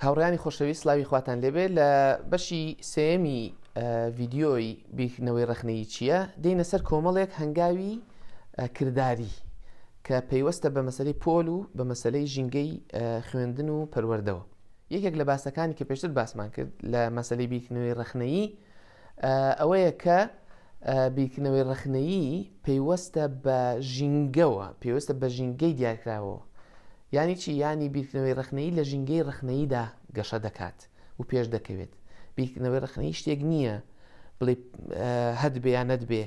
هاوڕیانی خۆشەویست سلاوی خواتان لێبێ لە بەشی سێمی ڤیددیۆی بیرکردنەوەی ڕخنەی چییە دێنە سەر کۆمەڵێک هەنگاوی کردداری کە پەیوەستە بە مەسلەی پۆل و بە مەسلەی ژینگەی خوێندن و پەروەردەوە یەکێک لە باسەکانی کە پێشتر باسمان کرد لە مەسلەی بیرکردنەوەی ڕخنەیی ئەوەیە کە بیرکردنەوەی ڕەخنەیی پەیوەستە بە ژینگەوە، پەیوەستە بە ژینگەی دیارکراوەوە. یانی چی؟ یانی بیرکردنەوەی ڕەخنەیی لە ژینگەی ڕەخنەییدا گەشە دەکات و پێش دەکەوێت. بیرکردنەوەی ڕەخنەیی شتێک نییە بڵێ هەدبێ یان نەدبێ،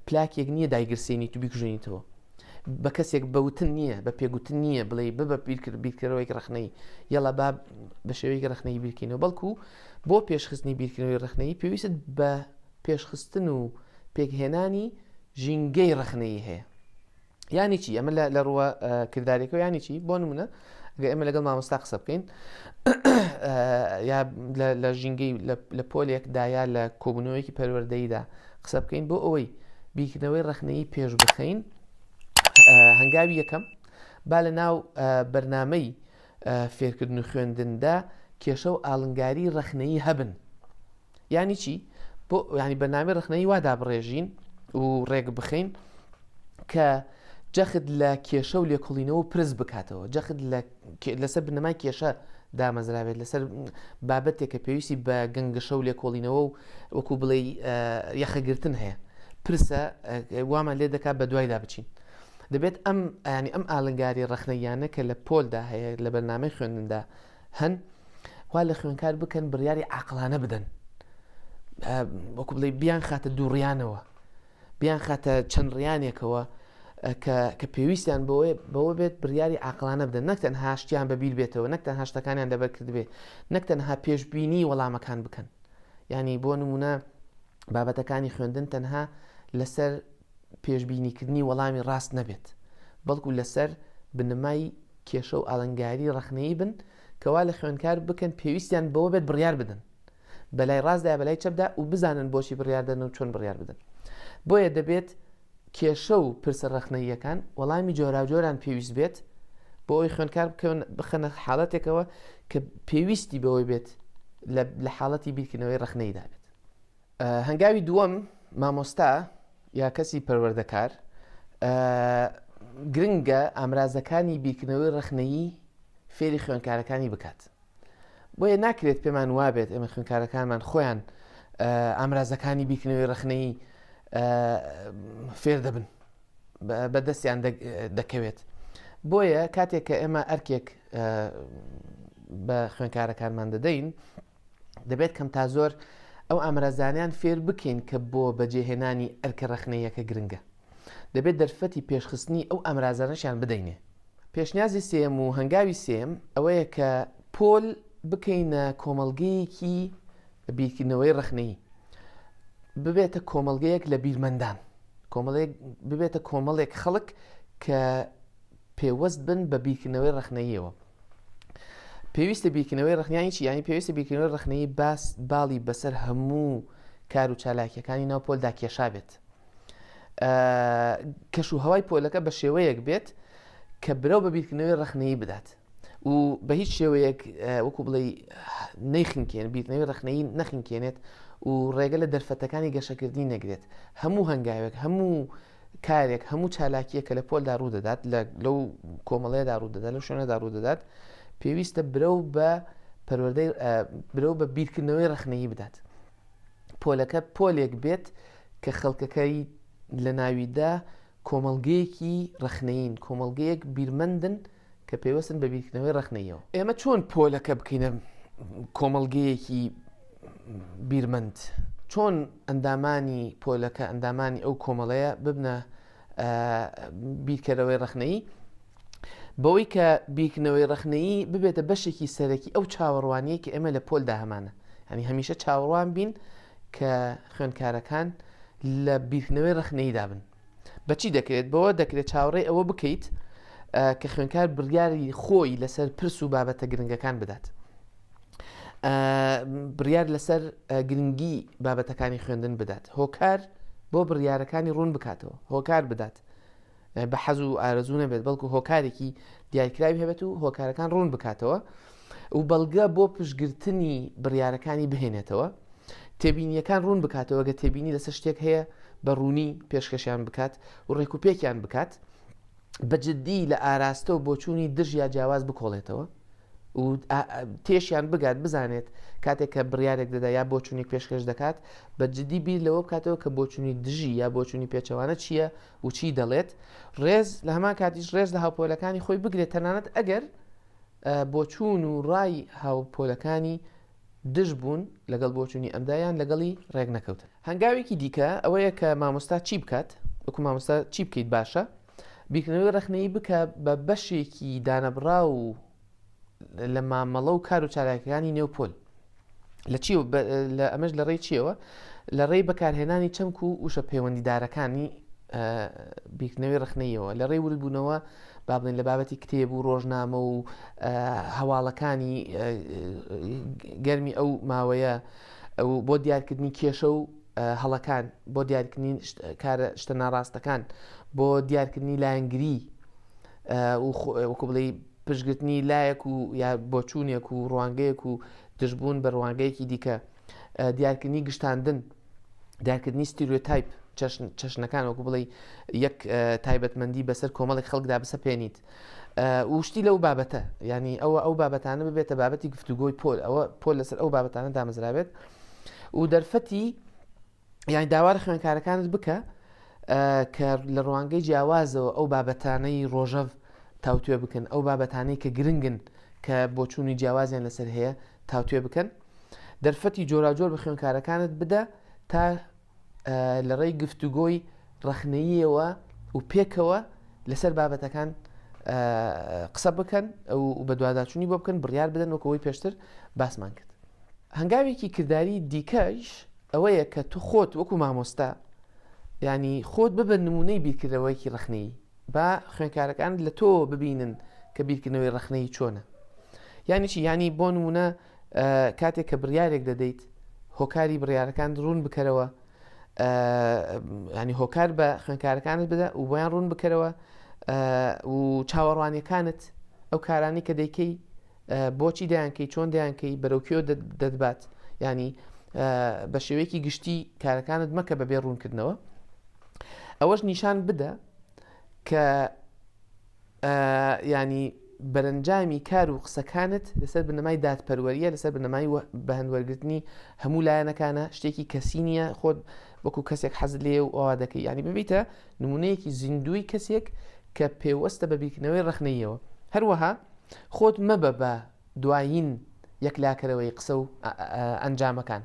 پلاکێک نییە دایگرسێنیت و بیکوژێنیتەوە. بە کەسێک بەوتن نییە، بە پێگوتن نییە بڵێ ببە بیرکرد بیرکەرەوەیەک ڕەخنەیی، یەڵا با بە شێوەیەکی ڕەخنەیی بیرکەینەوە، بەڵکو بۆ پێشخستنی بیرکردنەوەی ڕەخنەیی پێویستت بە پێشخستن و پێکهێنانی ژینگەی ڕەخنەیی هەیە. یانی چی ئەمە لە ڕووە کردارێکەوە ینی چی بۆ نمونە گە ئێمە لەگەڵ مامۆستا قسە بکەین یا لە ژینگەی لە پۆلێک دایا لە کۆبوونەوەیەکی پەروەردەیدا قسە بکەین بۆ ئەوەی بیکردنەوەی ڕخنەی پێش بخەین هەنگاوی یەکەم با لە ناو بەرنمەی فێرکردن و خوێندندا کێشە و ئاڵنگاری ڕەخنەیی هەبن یانی چی بۆ ینی بەنامی ڕخنەی وا دابڕێژین و ڕێک بخەین کە جەخت لە کێشە و لێکۆڵینەوە پرس بکاتەوە جەخت لەسەر بنەمای کێشە دامەزرابێت لەسەر بابەتێک کە پێویستی بە گەنگەشە و لێکۆڵینەوە و وەکو بڵێ یەخەگرتن هەیە پرسە وامان لێ دەکات بە دوایدا بچین دەبێت ئەم یانی ئەم ئالنگاری ڕەخنەییانە کە لە پۆلدا هەیە لە بەرنامەی خوێندندا هەن وا لە خوێنکار بکەن بڕیاری عقلانە بدەن وەکو بڵێ بیان خاتە دووڕیانەوە بیان خاتە چەند ڕیانێکەوە کە پێویستیان بۆێ بەوە بێت بڕیاری عقلانە بدەن نەکتەن هاشتیان بەبییر بێتەوە نەکتەن هاشتەکانیان دەبەر کردبێ نەکتەن ها پێشببینی وەڵامەکان بکەن ینی بۆ نمونە بابەتەکانی خوێندن تەنها لەسەر پێشبینیکردنی وەڵامی ڕاست نەبێت، بەڵکو لەسەر بنەمای کێشە و ئالنگاری ڕەخنەیی بن کە وا لە خوێنکار بکەن پێویستیان بەوە بێت بڕیار بدەن بە لای ڕاستدا یا بە لای چەپدا و بزانن بۆچی بڕیار دەدەن و چۆن بڕیار بدەن. بۆیە دەبێت کێشە و پرسە ڕەخنەییەکان وەڵامی جۆراوجۆران پێویست بێت بۆ ئەوەی خوێنکار بکەون بخەنە حاڵەتێکەوە کە پێویستی بەوەی بێت لە حاڵەتی بیرکردنەوەی ڕەخنەییدا بێت. هەنگاوی دووەم مامۆستا یا کەسی پەروەردەکار گرنگە ئامرازەکانی بیرکردنەوەی ڕخنەیی فێری خوێنکارەکانی بکات بۆیە ناکرێت پێمان وابێت ئێمە خوێنکارەکانمان خۆیان ئامرازەکانی بیکنەوەی ڕخنەی فێر دەبن بە دەستیان دەکەوێت بۆیە کاتێک کە ئێمە ئەرکێک بە خوێنکارەکانمان دەدەین دەبێت کەم تا زۆر ئەو ئامرازانیان فێر بکەین کە بۆ بەجێهێنانی ئەرکە ڕخنەیەکە گرنگە دەبێت دەرفەتی پێشخستنی ئەو ئامرازانەشیان بدەینێ پێشنیازی سێم و هەنگاوی سێم ئەوەیە کە پۆل بکەینە کۆمەلگەیەکی بیرکردنەوەی ڕخنەی ببێتە کۆمەلگەیەک لە بیرمەندان کۆمەڵێک ببێتە کۆمەڵێک خەڵک کە پێوەست بن بە بیرکردنەوەی ڕخنەیەوە پێویستە بیرکردنەوەی ڕخنیانی چی ینی پێویستە بیرکردنەوەی ڕخنەی باس باڵی بەسەر هەموو کار و چالاکیەکانی ناو پۆلدا کێشا بێت کەش و هەوای پۆلەکە بە شێوەیەک بێت کە برەو بە بیرکردنەوەی ڕخنەیە بدات و بە هیچ شێوەیەک وەکو بڵێ نەیخنکێن بیرنەوەی ڕخنەی نەخنکێنێت و ڕێگە لە دەرفەتەکانی گەشەکردنی نەگرێت هەموو هەنگاوێک هەموو کارێک، هەموو چالاکییەک کە لە پۆلدا ڕوو دەدات، لە لەو کۆمەڵەیەدا ڕوو دەدات، لەو شوێنەدا ڕوو دەدات، پێویستە برەو بە پەروەردەی برەو بە بیرکردنەوەی ڕەخنەیی بدات. پۆلەکە پۆلێک بێت کە خەڵکەکەی لە ناویدا کۆمەڵگەیەکی ڕەخنەیین، کۆمەڵگەیەک بیرمەندن، کە پەیوەستن بە بیرکردنەوەی ڕەخنەییەوە. ئێمە چۆن پۆلەکە بکەینە کۆمەڵگەیەکی بیرمەند؟ چۆن ئەندامانی پۆلەکە ئەندامانی ئەو کۆمەڵەیە ببنە بیرکەرەوەی ڕەخنەیی؟ بەوەی کە بیرکردنەوەی ڕەخنەیی ببێتە بەشێکی سەرەکی ئەو چاوەڕوانیە کە ئێمە لە پۆلدا هەمانە ئەنی هەمیشە چاوەڕوان بین کە خوێندکارەکان لە بیرکردنەوەی ڕەخنەییدا بن بە چی دەکرێت؟ بەوە دەکرێت چاوەڕێی ئەوە بکەیت کە خوێنکار بڕیاری خۆی لەسەر پرس و بابەتە گرنگەکان بدات. بڕیار لەسەر گرنگی بابەتەکانی خوێندن بدات هۆکار بۆ بڕیارەکانی ڕوون بکاتەوە هۆکار بدات بە حەز و ئارەزوو نەبێت بەڵکو هۆکارێکی دیارکراوی هەبێت و هۆکارەکان ڕوون بکاتەوە و بەڵگە بۆ پشتگرتنی بڕیارەکانی بهێنێتەوە، تێبینییەکان ڕوون بکاتەوە، گەر تێبینی لەسەر شتێک هەیە بە ڕوونی پێشکەشیان بکات و ڕێکوپێکیان بکات، بە جددی لە ئاراستە و بۆچوونی دژ یا جیاواز بکۆڵێتەوە و تێشیان بگات، بزانێت کاتێک کە بڕیارێک دەدا یا بۆچوونێک پێشکەش دەکات، بە جددی بیر لەوە بکاتەوە کە بۆچوونی دژی یا بۆچوونی پێچەوانە چییە و چی دەڵێت، ڕێز لە هەمان کاتیش ڕێز لە هاوپۆلەکانی خۆی بگرێت تەنانەت ئەگەر بۆچوون و ڕای هاوپۆلەکانی دژ بوون لەگەڵ بۆچوونی ئەمدا یان لەگەڵی ڕێک نەکەوتن. هەنگاوێکی دیکە ئەوەیە کە مامۆستا چی بکات، وەکو مامۆستا چی بکەیت باشە؟ بیرکردنەوەی ڕەخنەیی بکە بە بەشێکی دانەبڕاو لە مامەڵە و کار و چالاکیەکانی نێو پۆل. لە چی لە ئەمەش لە ڕێی چیەوە لە ڕێی بەکارهێنانی چەمک و وشە پەیوەندیدارەکانی بیرکردنەوەی ڕخنەیەوە لە ڕێی وردبوونەوە بابن لە بابەتی کتێب و ڕۆژنامە و هەواڵەکانی گەرمی ئەو ماوەیە بۆ دیارکردنی کێشە و هەڵەکان بۆ دیارکردنی کارە شتە ناڕاستەکان بۆ دیارکردنی لایەنگری وەکو بڵێ پشتگرتنی لایەک و یا بۆچوونێک و ڕوانگەیەک و دژبوون بە ڕوانگەیەکی دیکە، دیارکردنی گشتاندن، دیارکردنی ستیریۆتایپ، چەشنەکان وەکو بڵێی یەک تایبەتمەندی بەسەر کۆمەڵێک خەڵکدا بسەپێنیت وشتی لەو بابەتە ینی ئەوە ئەو بابەتانە ببێتە بابەتی گفتوگۆی پۆل ئەوە پۆل لەسەر ئەو بابەتانە دامەزرابێت و دەرفەتی یانی داوار خوێنکارەکانت بکە کە لە ڕوانگەی جیاوازەوە ئەو بابەتانەی ڕۆژەڤ تاوتێ بکەن ئەو بابەتانەی کە گرنگن کە بۆچوونی جیاوازیان لەسەر هەیە تاوتێ بکەن دەرفەتی جۆراجۆر بە خوێنکارەکانت بدە تا لە ڕێی گفتوگۆی ڕەخنەیەوە و پێکەوە لەسەر بابەتەکان قسە بکەن ئەو بە دوواداچوونی بۆ بکەن بڕیار بدەن وەکەوەی پێشتر باسمان کرد هەنگاوێکی کردداری دیکەش ئەوەیە کە تو خۆت وەکو مامۆستا یانی خۆت ببە نمونەی بیرکردنەوەیەکی ڕەخنەیی با خوێنکارەکانت لە تۆوە ببینن کە بیرکردنەوەی ڕەخنەیی چۆنە یانی چی یانی بۆ نمونە کاتێک کە بڕیارێک دەدەیت هۆکاری بڕیارەکان ڕوون بکەرەوە ینی هۆکار بە خوێنکارەکانت بدە و بۆیان ڕوون بکەرەوە و چاوەڕوانیەکانت ئەو کارانی کە دەیکەی بۆچی دەیانکەی چۆن دەیانکەی بەرەو کوێ دەتبات ینی بە شێوەیەکی گشتی کارەکانت مەکە بەبێ ڕوونکردنەوە ئەوەش نیشان بدە کە ینی بەرەنجامی کار و قسەکانت لەسەر بنەمای دادپەروەریە لەسەر بنەمای بەهندوەرگرتنی هەموو لایەنەکانە شتێکی کەسی نییە خۆت وەکو کەسێک حەز لێ و ئەوا دەکەی ینی ببیتە نمونەیەکی زیندوی کەسێک کە پێوەستە بە بیرکردنەوەی ڕخنەیەوە هەروەها خۆت مەبە بە دوایین یەکلاکەرەوەی قسە و ئەنجامەکان.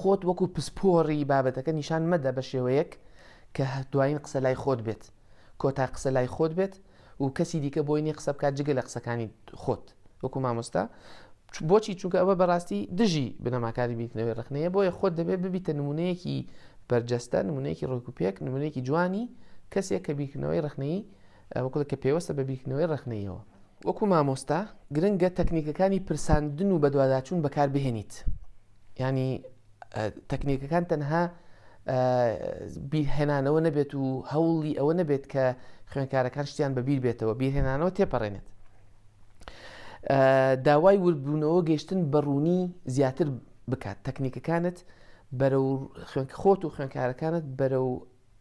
خۆت وەکو پسپۆڕی بابەتەکە نیشان مەدە بە شێوەیەک کە دوایین قسە لای خۆت بێت، کۆتا قسە لای خۆت بێت و کەسی دیکە بۆی نییە قسە بکات جگە لە قسەکانی خۆت وەکو مامۆستا. بۆچی؟ چونکە ئەوە بەڕاستی دژی بنەماکانی بیرکردنەوەی ڕەخنەیە، بۆیە خۆت دەبێت ببیتە نموونەیەکی بەرجەستە، نموونەیەکی ڕێکوپێک، نموونەیەکی جوانی کەسێک کە بیرکردنەوەی ڕەخنەیی وەکو کە پێوەستە بە بیرکردنەوەی ڕەخنەییەوە. وەکو مامۆستا گرنگە تەکنیکەکانی پرساندن و بەدواداچوون بەکاربهێنیت ینی تەکنیکەکان تەنها بیرهێنانەوە نەبێت و هەوڵی ئەوە نەبێت کە خوێنکارەکان شتیان بەبییر بێتەوە بیرهێنانەوە تێپەڕێنێت داوای وردبوونەوە گەشتن بە ڕوونی زیاتر بکات تەکنیکەکانت بەرە خوێنکە خۆت و خوێنکارەکانت بەرە و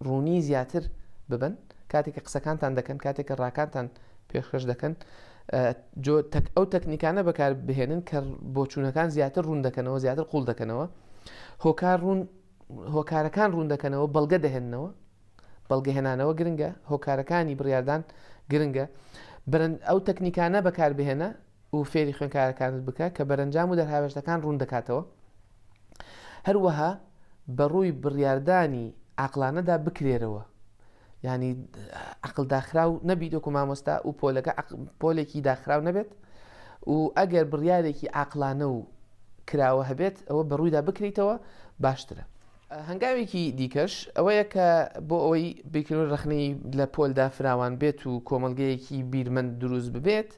ڕوونی زیاتر ببن کاتێک کە قسەکانتان دەکەن، کاتێک کە ڕاکانتان پێشکەش دەکەن، جۆ تەک ئەو تەکنیکانە بەکار بهێنن کە بۆچوونەکان زیاتر ڕوون دەکەنەوە، زیاتر قووڵ دەکەنەوە، هۆکار ڕوون هۆکارەکان ڕوون دەکەنەوە، بەڵگە دەهێننەوە، بەڵگەهێنانەوە گرنگە، هۆکارەکانی بڕیاردان گرنگە، برن ئەو تەکنیکانە بەکار بهێنە، و فێری خوێنکارەکانت بکە کە بەرەنجام و دەرهاوێشتەکان ڕوون دەکاتەوە هەروەها بە ڕووی بڕیاردانی عقلانەدا بکرێرەوە ینی عقل داخراو نەبی دۆکو مامۆستا و پۆلەکە پۆلێکی داخراو نەبێت و ئەگەر بڕیارێکی عقلانە و کراوە هەبێت ئەوە بەڕوویدا بکریتەوە باشترە هەنگاوێکی دیکەش ئەوەیە کە بۆ ئەوەی بیرکردنەوەی ڕەخنەی لە پۆلدا فراوان بێت و کۆمەڵگەیەکی بیرمەند دروست ببێت،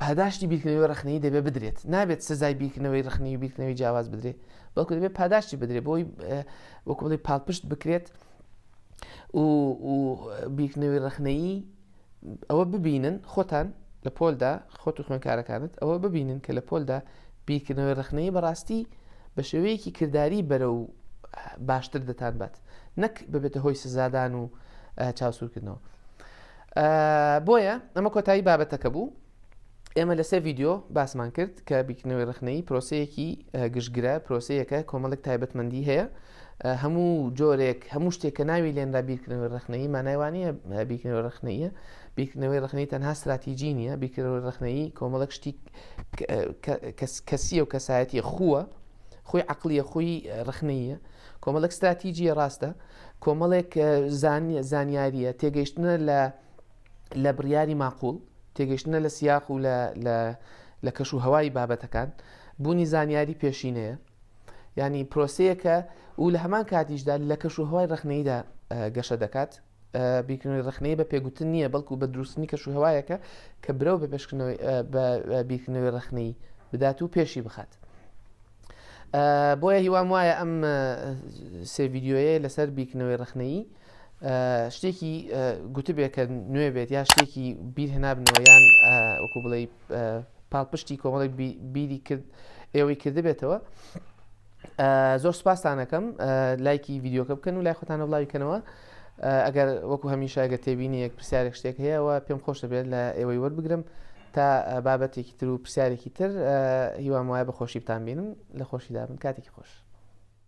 پاداشتی بیرکردنەوەی ڕەخنەی دەبێت بدرێت، نابێت سزای بیرکردنەوەی ڕەخنەی و بیرکردنەوەی جیاواز بدرێت، بەڵکو دەبێت پاداشتی بدرێت بۆی وەکوڵی پاڵپشت بکرێت و بیرکردنەوەی ڕەخنەیی ئەوە ببینن خۆتان لە پۆلدا خۆت و خوێنکارەکانت ئەوە ببینن کە لە پۆلدا بیرکردنەوەی ڕخنەی بەڕاستی بە شێوەیەکی کردداری بەرە و باشتر دەتان بات نەک ببێتە هۆی سزادان و چاوسورکردنەوە بۆیە ئەمە کۆتایی بابەتەکە بوو ئێمە لە سێ ڤیددیو باسمان کرد کە بیکنەوەی ڕخنەی پرۆسەیەکی گشتگرە پرۆسەیەەکە کۆمەڵک تایبەتمەندی هەیە هەموو جۆرێک هەموو شتێک کە ناوی لێنرا بیرکردنەوەی ڕخنەی مانایوانە بیرکردنەوەی ڕخنەیە بیرکردنەوەی ڕخنەی تەنها استراتیجی نیە بیرکردەوەی ڕخنەی کۆمەڵک شتی کەسیە و کەسایەتی خووە خۆی عقلیە خۆی ڕخنەیە کۆمەڵک استراتیجیە ڕاستە کۆمەڵێک زانیاریە تێگەیشتنە لە لە بڕیاری ماقوڵ، تێگەیشتنە لە سیاق و لە کەش و هەوای بابەتەکان، بوونی زانیاری پێشینەیە، یانی پرۆسەیەکە و لە هەمان کاتیشدا لە کەش و هەوای ڕەخنەییدا گەشە دەکات. بیرکردنەوەی ڕەخنەیی بە پێگوتن نییە، بەڵکو بە دروستنی کەش و هەوایەکە کە برەو بە پێشکردنەوەی بە بیرکردنەوەی ڕەخنەیی بدات و پێشی بخات. بۆیە هیوام وایە ئەم سێ ڤیددیوەیە لەسەر بیرکردنەوەی ڕەخنەیی شتێکی گوتبێ کە نوێ بێت یا شتێکی بیر هێنابنەوە یان وەکو بڵێ پاڵپشتی کۆمەڵێک بیری کرد ئێوەی کردبێتەوە زۆر سپاسانەکەم لایکی یددیوکە بکەن و لای خۆتانە بڵاویکەنەوە ئەگەر وەکو هەمیشە ئەگە تێبینی یەک پرسیارێک شتێک هەیەەوە پێم خۆش دەبێت لە ئێوەی وەربگرم تا بابەتێکی تر و پرسیارێکی تر هیوام وایە بە خۆشی بتان بینم لە خۆشیدا بن کاتێکی خۆش.